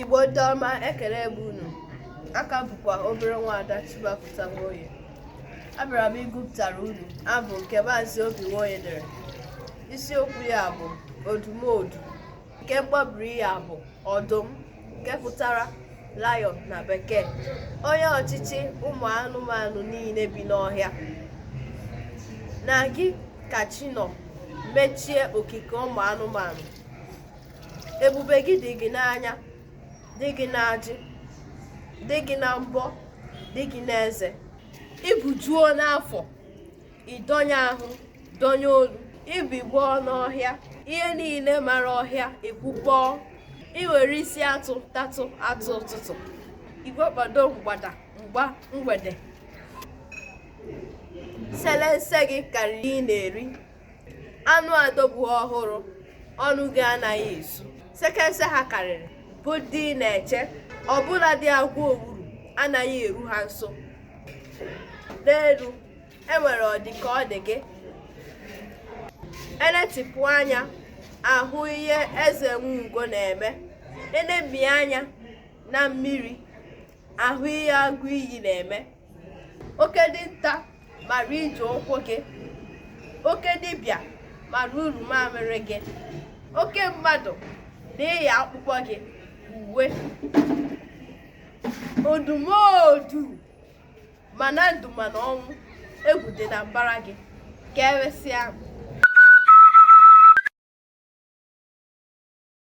Igbo ndị ọma ekele m unu aka bụkwa obere nwaada Chimapụta Nwoye abịara m ịgụpụtara unu abụ nke maazị Obi Nwoye dere isiokwu ya bụ odumodu nke mkpọbiri ya bụ ọdụm nke pụtara lion na bekee onye ọchịchị ụmụ anụmanụ niile bi n'ọhịa na gị ka chi nọ mechie okike ụmụ anụmanụ ebube gị dị gị n'anya dị gị n'ajị dị gị na mbọ dị gị n'eze i bujuo n'afọ ị dọnye ahụ dọnye olu i bigbọọ n'ọhịa ihe niile mara ọhịa ekwukpọọ i were isi atụ tatụ atụ ụtụtụ igwe kpado mgbada mgba mgbede selense gị karịrị ị na-eri anụ adọgbu ọhụrụ ọnụ gị anaghị ezu sekense ha karịrị bụ dị na-eche ọ bụla dị agwa owuru anaghị eru ha nso n'elu e nwere ọdị ka ọ dị gị e netipụ anya a hụ ihe eze nwe ugo na-eme e nemi anya na mmiri a hụ ihe agụ iyi na-eme oke dinta mara ije ụkwụ gị oke dibịa mara uru mamịrị gị oke mmadụ na-eyi akpụkpọ gị uwe odumodu ma na ndụ ma na ọnwụ egwu dị na mbara gị ka emesịa